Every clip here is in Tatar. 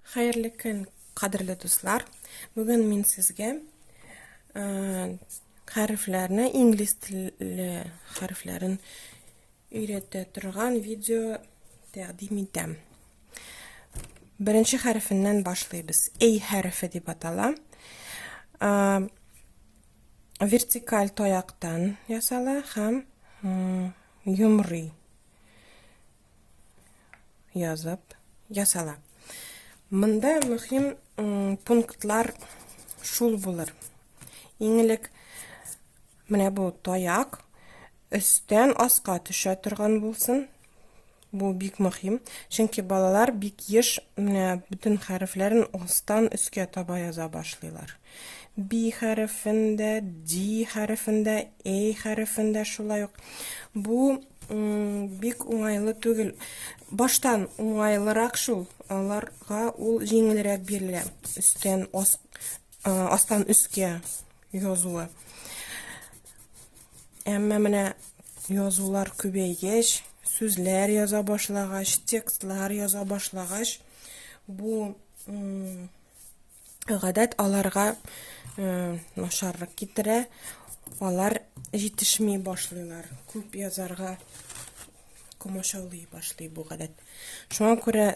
Хәерле көн, кадерле дуслар! Бүген мин сезгә хәрефләрне, инглиз теле хәрефләрен өйрәтә торган видео тәкъдим итәм. Беренче хәрефеннән башлыйбыз. A хәрефе дип атала. Вертикаль таяктан ясала һәм йомрый. язып ясала. Монда мөһим пунктлар шул булыр. Иң элек менә бу таяк өстән аска төшә торган булсын. Бу бик мөһим, чөнки балалар бик еш менә бөтен хәрефләрен астан өскә таба яза башлыйлар. би хәрефен дә, ди хәрефен дә, эй хәрефен дә шулай ук. Бу бик уңайлы түгел. Баштан уңайлырак шул, аларга ул җиңелрәк бирелә. Өстән ас, астан өскә язуы. Әмма менә язулар күбәйгәч, сүзләр яза башлагач, текстлар яза башлагач, бу Гадәт аларга э, нашарлык китерә, алар җитешми башлыйлар. Күп язарга комачаулый башлый бу гадәт. Шуңа күрә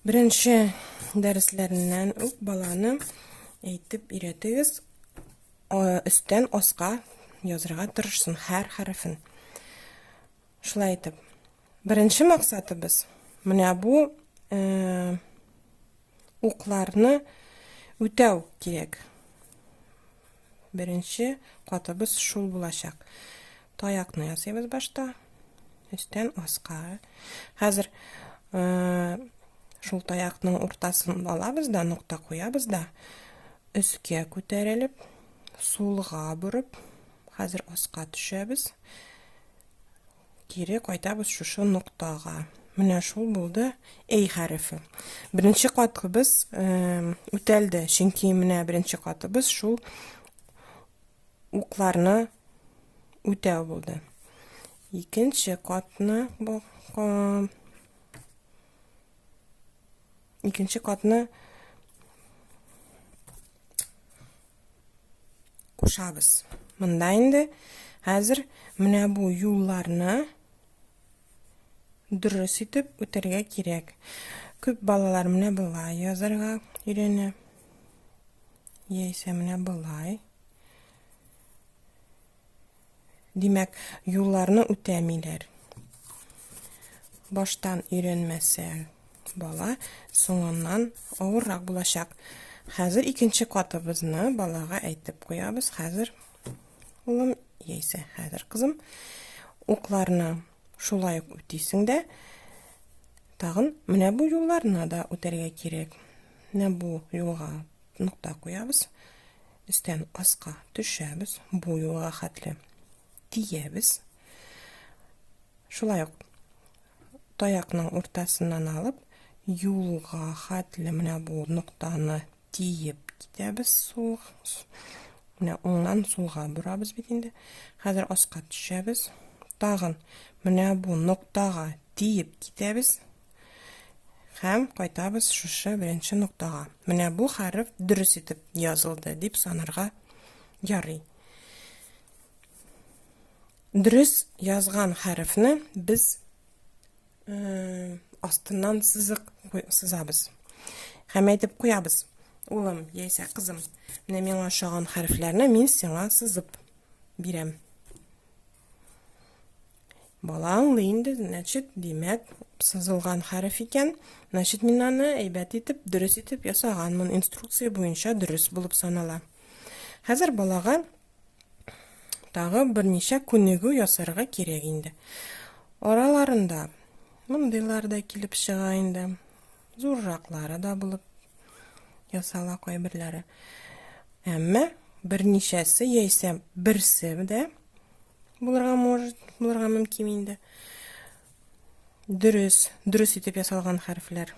беренче дәресләреннән үк баланы әйтеп өйрәтегез, өстән аска язырга тырышсын һәр хәрефен. Шулай итеп, беренче максатыбыз менә бу э, укларны үтәү кирәк. Беренче катыбыз шул булачак. Таякны ясыйбыз башта. Өстән аска. Хәзер э, шул таякның уртасын алабыз да, нокта куябыз да, өскә күтәрелеп, сулга борып, хәзер аска төшәбез. Кире кайтабыз шушы ноктага. Менә шул булды әй хәрефе. Беренче катыбыз үтәлде, чөнки менә беренче катыбыз шул укларны үтәү булды. Икенче катны икенче катны кушабыз. Монда инде хәзер менә бу юлларны дөрес итеп үтәргә кирәк. Күп балалар менә болай язарга өйрәнә. Яисә менә болай. Димәк, юлларны үтәмиләр. Баштан өйрәнмәсә бала, соңыннан авыррак булачак. Хәзер икенче катыбызны балага әйтеп куябыз. Хәзер улым, яисә хәзер кызым, укларны шулай ук үтисең дә, тагын менә бу юлларны да үтәргә кирәк. Менә бу юлга Нокта куябыз. Өстән аска төшәбез. Бу юлга хәтле тиябез. Шулай ук таякның уртасыннан алып, юлга хәтле менә бу ноктаны тиеп китәбез сул. Менә уңнан сулга борабыз бит инде. Хәзер аска төшәбез. Тагын менә бу ноктага тиеп китәбез. Һәм кайтабыз шушы беренче ноктага. Менә бу хәреф дөрес итеп язылды дип санарга ярый. Дөрес язган хәрефне без э, астыннан сызык сызабыз. Һәм әйтеп куябыз. Улым, яисә кызым, менә миңа ошаган хәрефләрне мин сиңа сызып бирәм. Бала аңлый инде, значит, димәк, сызылган хәреф икән. Значит, мин аны әйбәт итеп, дөрес итеп ясаганмын. Инструкция буенча дөрес булып санала. Хәзер балага тагы берничә күнегү ясарга кирәк инде. Араларында мондыйлар да килеп чыга инде. Зурраклары да булып ясала кайберләре. Әмма берничәсе яисә берсе дә булырга может, булырга мөмкин инде. Дөрес, дөрес итеп ясалган хәрефләр.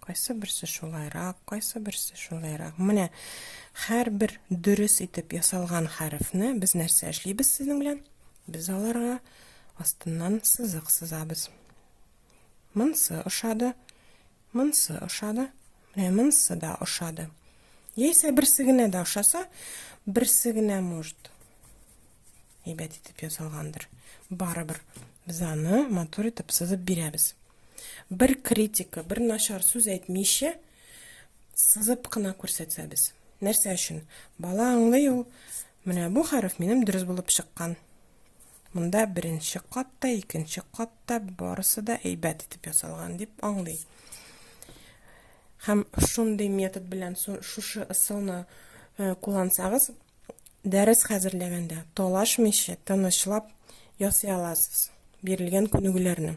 Кайсы берсе шулайрак, кайсы берсе шулайрак. Менә һәрбер дөрес итеп ясалган хәрефне без нәрсә эшлибез сезнең белән? Без аларга астыннан сызык сызабыз. Монсы ошады. Монсы ошады. Менә монсы да ошады. Яисә берсе генә дә ошаса, берсе генә может әйбәт итеп ясалгандыр. Барыбер без аны матур итеп сызып бирәбез. Бер критика, бер начар сүз әйтмичә сызып кына күрсәтсәбез. Нәрсә өчен? Бала аңлый ул, менә бу хәреф минем дөрес булып чыккан. Монда беренче кат та, икенче кат та барысы да әйбәт итеп ясалган дип аңлый. Һәм шундый метод белән шушы ысулны э, куллансагыз, дәрес хәзерләгәндә талашмыйча, тынычлап ясый аласыз бирелгән күнегүләрне.